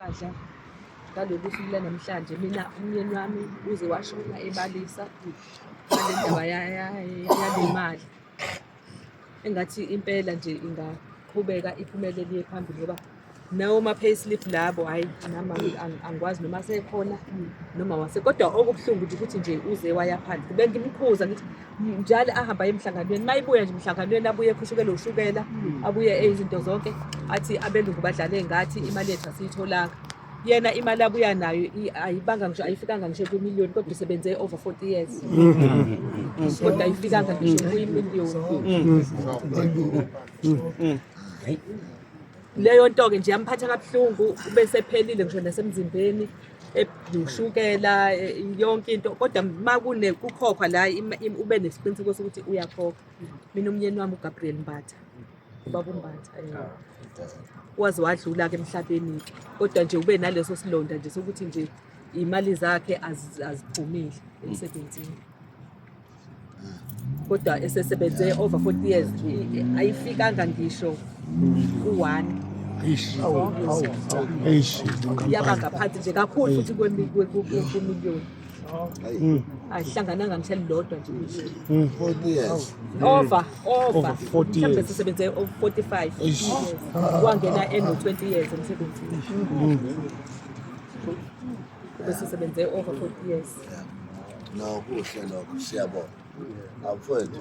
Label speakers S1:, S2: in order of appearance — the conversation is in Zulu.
S1: Badla ngalolu suku lanamhlanje mina umyeni wami uze washona ebalisa ngale ndaba yalemali engathi impela nje ingaqhubeka iphumele liye phambili ngoba nawo ma-payslip labo hhayi nama angikwazi noma sekhona noma wase kodwa okubuhlungu ukuthi nje uze waya phansi bengimkhuza ngithi njalo ahamba aye emhlanganweni uma ibuya nje emhlanganweni abuye ekhushukelwe ushukela hmm. abuye eyizinto zonke athi abelungu badlale ngathi imali yethu asiyitholanga yena imali abuya nayo ayibanga ngisho ayifikanga ngisho kwimiliyoni kodwa usebenze over 40 years hmm. kodwa ayifikanga ngisho kwimiliyoni hmm. leyo nto-ke nje yamphatha kabuhlungu bese phelile ngisho nasemzimbeni ushukela e, yonke into kodwa uma kune kukhokhwa la ube nesiqiniseko sokuthi uyakhokha mina umyeni wami ugabriel mbatha ubaba umbatha eh. waze wadlula-ke emhlabeni-ke kodwa nje ube naleso silonda nje sokuthi nje iy'mali zakhe azigcumile emsebenzini kodwa esesebenze over 40 years ayifikanga ngisho ku-one yaba ngaphansi nje kakhulu futhi kwemiliyoni hmm. ayihlangananga ngishali lodwa nje hmm.
S2: over over
S1: mhlawumbe
S3: sisebenze
S1: 45 wangena eno-20 years emsebenzini hmm. Besisebenze over 40 years. No
S2: kuhle lokho
S1: siyabonga. Awufowethu.